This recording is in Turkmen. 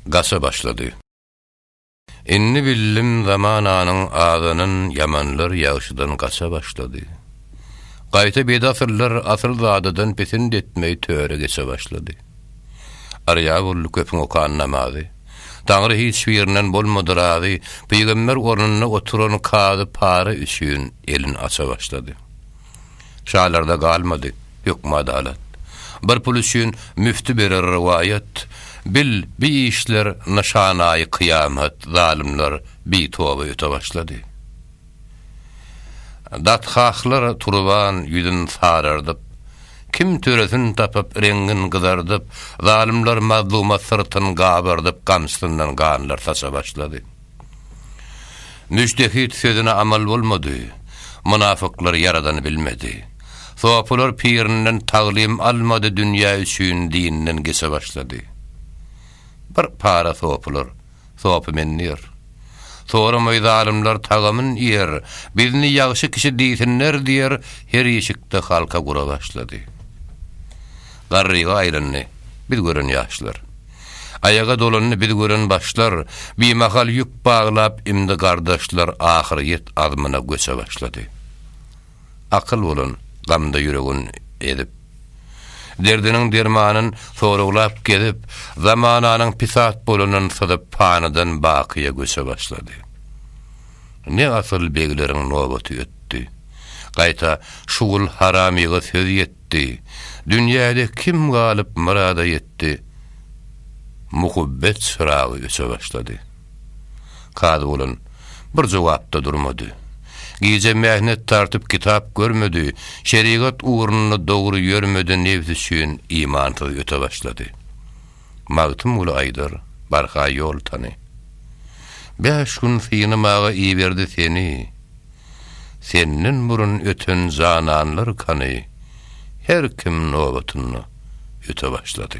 gaça başlady. Indi bildim zamananyň azanyn ýamanlar ýagşydan gaça başlady. Gaýta bedasyllar asyl zadadan pesind etmegi töre geçe başlady. Arýa boldy köpüň okan namazy. Taňry hiç birinden bolmady razy, pygamber ornunda oturan kazy para üçin elin aça başlady. Şalarda galmady höküm-adalat. Bir pul üçin müfti berer rowaýat, Bil, bi işler nyşanaýy kyýamat, Zalymlar bitoba öte başlady. Datgahlar turban ýüzün sarardyp, Kim töresini tapyp, reňin gyzardyp, Zalymlar mazluma syrtyn gabardyp, Gamsyndan ganlar saça başlady. Müjtehit sözüne amal bolmady, Mynafyklar Ýaradany bilmedi. Sopular pirinden taglym almady Dünýä üçin dinden geçe başlady. Bir para sopular, sopy men diýer. Soramaý zalymlar tagamyn iýer, Bizni ýagşy kişi diýsinler diýer Her işikde halka gura başlady. Garryga aýlandy biz gören ýaşlar. Aýaga dolandy biz gören başlar, Bimahal ýük baglap imdi gardaşlar Ahyryýet azmyna göçe başlady. Akyl bolan, gamda ýüregin ezip. Derdiniň dermanyn soraglap gezip, Zamananyň pisat bolanyn syzyp Panydan bakyýa göçe başlady. Ne asyl begleriň nobaty ötdi. Gaýta şugul haramyga söz ýetdi. ýitdi. Dünýäde kim galyp myrada ýetdi? Muhubbet çyragy öçe başlady. Kazy bolan bir jogapda durmady. Gije mähnet tartyp kitap görmedi, şerigat ugrunda dogry ýörmedi nebs üçin imansyz öte başlady. Magtymguly aýdar, barha ýol tany. Bäş gün synamaga iberdi seni, Senden burun öten jananlar kany, Her kim nobatynda öte başlady.